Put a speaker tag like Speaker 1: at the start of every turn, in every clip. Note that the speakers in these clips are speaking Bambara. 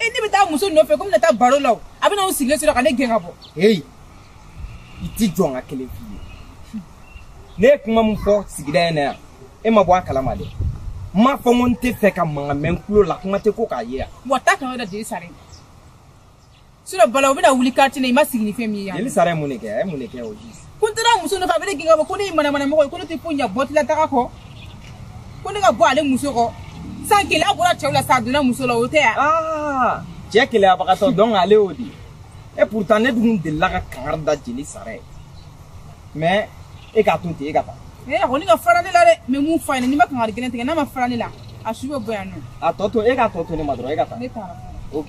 Speaker 1: e ne bɛ taa muso nɔfɛ komi n bɛna taa baro la o a bɛna o sigilen sɔrɔ ka ne gɛn ka bɔ
Speaker 2: heyi i tɛ jɔ n ka kelen f'i ye ne ye kuma min fɔ sigida in na yan e ma bɔ a kalama dɛ n m'a fɔ n ko n t'a fɛ ka mankan mɛn n tulo la kuma tɛ ko k'a ye yan wa taa kan da jeli
Speaker 1: sara ye sinɔn balawu bɛna wuli kartiye la i ma sigi ni fɛn min ye yan jeli sara ye mun de kɛ a ye mun
Speaker 2: de kɛ o ji ko n taara muso nɔfɛ a bɛ
Speaker 1: ne gɛn ka bɔ ko ne ye manamanamɔgɔ ye ko ne tɛ foyi ɲɛ buteli ta kɔ ko ne ka bɔ ale muso kɔ sa keleya bɔra cɛw la sa a donna muso la o tɛ yan. Ah, cɛ
Speaker 2: keleyabagatɔ don ale y'o de ye pourtant ne dun delila ka kangari da jeli sara ye mais e k'a to ten e ka taa. ee a kɔni ka fara ne
Speaker 1: la dɛ mais mun fa ɲɛna n'i ma kangari gɛlɛn tigɛ n'a ma fara ne la a su bɛ bɔ yan nɔ. a tɔ to e k'a tɔ
Speaker 2: to ne ma dɔrɔn e ka taa. ne taara. ok.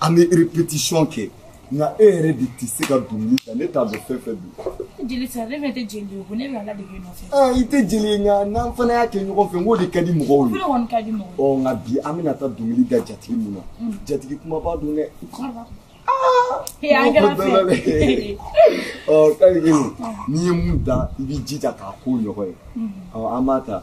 Speaker 3: an bɛ répétition kɛ nka e yɛrɛ de tɛ se ka dɔnkili da ne t'a dɔn fɛn fɛn don. jeli sara ne fɛnɛ
Speaker 1: tɛ jeli ye ko ne bɛ a ladege nɔfɛ. aa i tɛ jeli ye nka
Speaker 3: n'an fana y'a kɛ ɲɔgɔn fɛ n k'o de ka di mɔgɔw ye. ne kɔni ka di mɔgɔw.
Speaker 1: ɔ nka bi an bɛna
Speaker 3: taa dɔnkili da jatigi mun na mm. jatigi kumaba don dɛ. ɔ kari n'i ye mun da i b'i jija k'a k'o ɲɔgɔn ye mm. ɔ an b'a ta.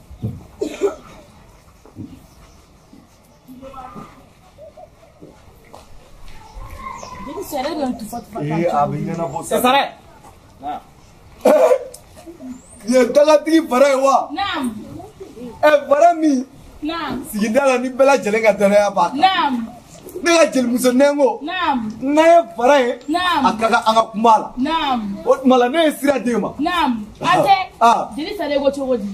Speaker 3: ye dagatigi bara ye wa ɛ bara min sigida la ni bɛɛ lajɛlen ka danaya b'a kan ne ka jelimuso nɛngo n'a ye bara ye a ka kan an ka kuma a la o tuma la ne ye sira d'e ma jeli
Speaker 1: sara ko cogo di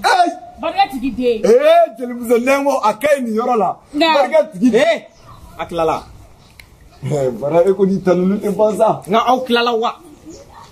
Speaker 1: barika tigi den ee jelimuso
Speaker 3: nɛngo a ka ɲi nin yɔrɔ la barika tigi den a tilala bara e ko n'i tanuni tɛ ban sa nka aw tilala wa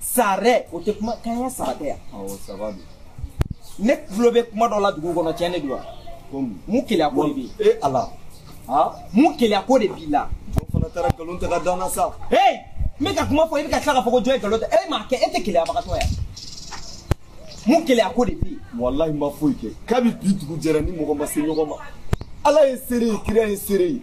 Speaker 2: sarɛ o tɛ kuma kan ye ça va tɛ yan awɔ ça va
Speaker 3: don
Speaker 2: ne tulo bɛ kuma dɔ la dugu kɔnɔ tiɲɛ de don wa komi mun keleya ko de bɛ e
Speaker 3: la ha mun
Speaker 2: keleya ko de b'i la jɔn fana taara nkalon
Speaker 3: tigɛ ka da n na sa hey n bɛ
Speaker 2: ka kuma fɔ i bɛ ka tila k'a fɔ ko jɔn ye nkalon tigɛ e m'a kɛ e tɛ keleyabagatɔ yan mun keleya ko de b'i walahi n ma foyi kɛ
Speaker 3: kabi bi dugu jɛra ni mɔgɔ ma se ɲɔgɔn ma ala ye seere ye kira ye seere ye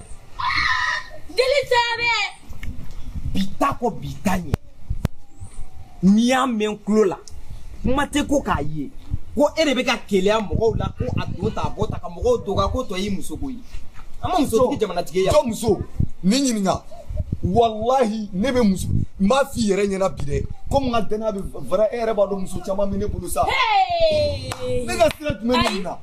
Speaker 4: jeli
Speaker 2: sara bi ta kɔ bi ta ɲɛ n'i y'a mɛn tulo la kuma tɛ ko k'a ye ko e de bɛ ka keleya mɔgɔw la ko a don ta a bɔ ta ka mɔgɔw doga ko tɔ y'i muso ko ye an ma muso tigi jamanatigi ye jɔn muso
Speaker 3: ne ɲininka walahi ne bɛ muso n b'a f'i yɛrɛ ɲɛna bi dɛ komi n ka danaya bɛ vara e yɛrɛ b'a dɔn muso caman bɛ ne bolo sa ne ka sira jumɛn bɛ nin na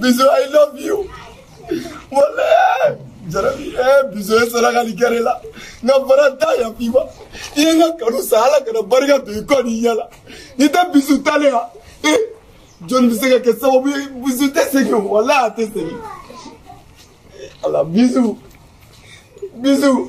Speaker 3: Bisous, I love you. Voilà. Jarabi, eh, bisous, eh, saraka ni kere la. Nga bara da ya piba. Iye nga kanu sahala kana barika to iko ni yala. Nita bisous tale ha. Eh, John bisega ke sawo bi bisous te sege wala te sege. Ala bisous. Bisous.